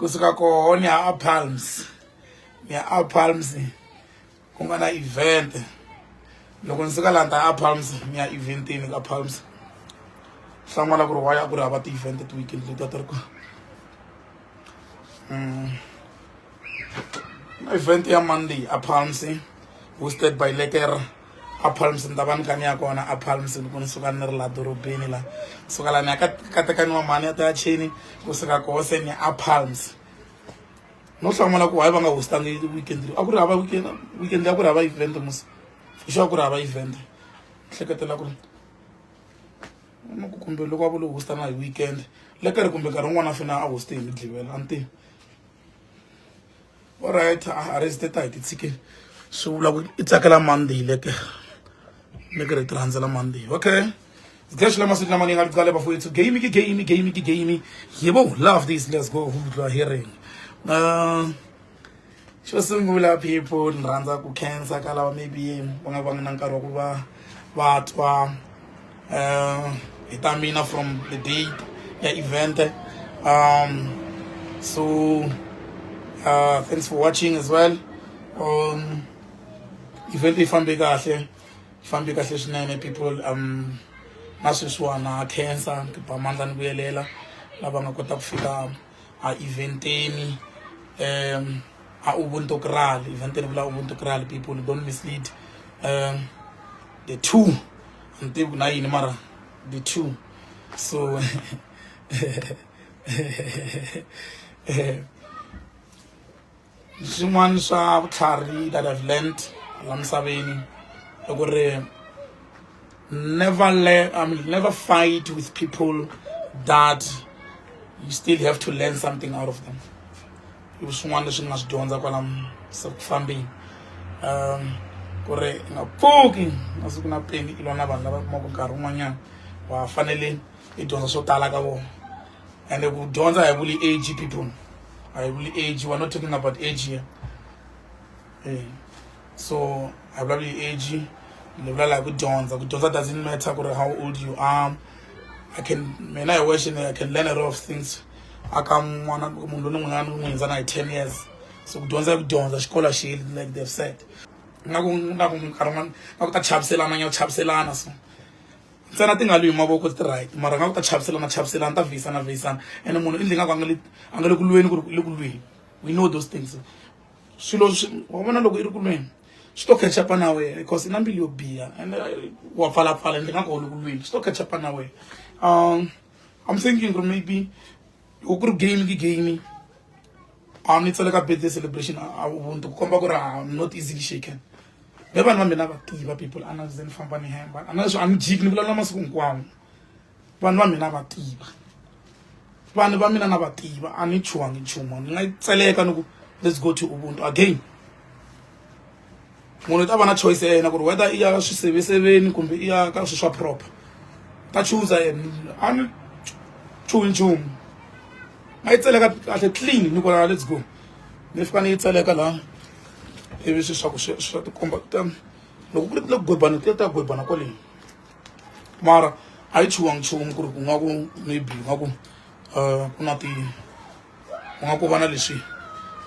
kusuka koho ni ya a palms ni ya a palms ku nga na event loko ni suka laha ni ta a palms ni ya eventini ka palms hlan'wana ku ri wa ya ku ri hava ti-event ti-weekend leti a ti ri kona mm. event ya monday a palms hosted by leker a palms ni ta va ni kani ya kona a palms loko ni suka ni ri laha dorobeni laha suka laha ni ya ka ka tekani wa mhani ya ta ya chini kusuka koho se ni a palms no hlamula ku hayi va nga hostangi weekend leyi a ku ri hava weekend weekend leyi a ku ri hava event musi hi xo a ku ri hava event hleketela ku ri ni ku kumbe loko a vo lo hostana hi weekend le ka ri kumbe nkarhi wun'wana a fina a hoste hi midlivela a ni tivi orit arrest ta hi titshike swi vula ku i tsakela monday le ke ni ke ri ti rhandzela monday okay zidleshela masiku lama ni nga liqale bafowethu game ke game game ke game yebo love this let's go hudlwa hearing uh, xo sungula people ni rhandza ku khensa ka lava maybe va nga va nga na nkarhi wa ku va vatwa um hi ta mina from the date ya event um so uh, thanks for watching as well um event yi fambe kahle yi fambe kahle swinene people um na sweswiwana cancer tiba mandla ni vuyelela lava nga kota ku fika a eventeni um a ubuntu kral eventeni vula ubuntu kral people don't mislead um the two ni tivi ku na yini mara the two so swin'wana swa vutlhari that I've learnt la misaveni i ku ri never le I mean never fight with people that you still have to learn something out of them i swin'wana leswi ni nga swi dyondza kwala se ku fambeni um ku ri i nga pfuki masiku na peni i lwa na vanhu lava kumaka nkarhi wun'wanyana wa fanele i dyondza swo tala ka vona and ku dyondza hi vuli age people hi vuli age we're not talking about age here hey. Eh, so hi vulavuli hi age ni vula laha ku dyondza ku dyondza doesn't matter ku ri how old you are i can mina hi wexe i can learn a lot of things aka n'wana munhu loyi ni n'wi nga ni n'wi hundza na hi ten years so ku dyondza ku dyondza xikolo xi heli like they've said nga ku nga ku nkarhi wun'wana nga ku ta chaviselana nya chaviselana so ntsena ti nga lwi hi mavoko ti right mara nga ku ta chaviselana chaviselana ta vhiyisana vhiyisana ene munhu i ndli nga ku a nga le a nga le ku lweni ku ri le ku lweni we know those things swilo wa vona loko i ri ku lweni swi to khachapa na wena because i na mbilu yo biha and wa pfalapfala ndzi nga ku holi ku lweni swi to khachapa na wena um i'm thinking ku ri maybe loko ku ri game ke game a ni tsale ka birthday celebration a ubuntu ku komba ku ri i'm not easily shaken ve vanhu va mina va tiva people a na ze ni famba ni hemba a na leswi a ni jiki ni vulavula masiku hinkwawo vanhu va mina va tiva vanhu va mina na va tiva a ni chuhangi nchumu ni nga tseleka ni ku let's go to ubuntu again munhu u ta va na choice ya yena ku ri whether i ya ka swiseveseveni kumbe i ya ka swilo swa proper u ta chuza yena a ni chuhi nchumu a yi tseleka kahle clean ni ku la let's go ni fika ni yi tseleka laha ivi swi swa ku swi swa tikomba ta loko ku ri le ku gwebana ti ta gwebana kwale mara a yi chuhangi nchumu ku ri ku nga ku maybe nga ku um ku na ti ku nga ku va na leswi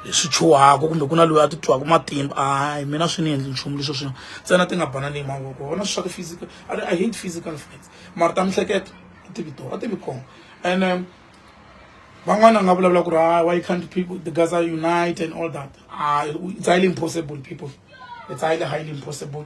hi swi chuhaka kumbe ku na loyi a ti twaka matimba a hi mina swi ni endli nchumu leswo swin'we ntsena ti nga banani hi mavoko wona swi swa ku physical a ri i hate physical fights mara ta mihleketo a ti vi to a ti vi kona and um, van'wana nga vulavula ku ri ah, why can't people the guys are unite and all that ah, it's highly impossible people it's highly highly impossible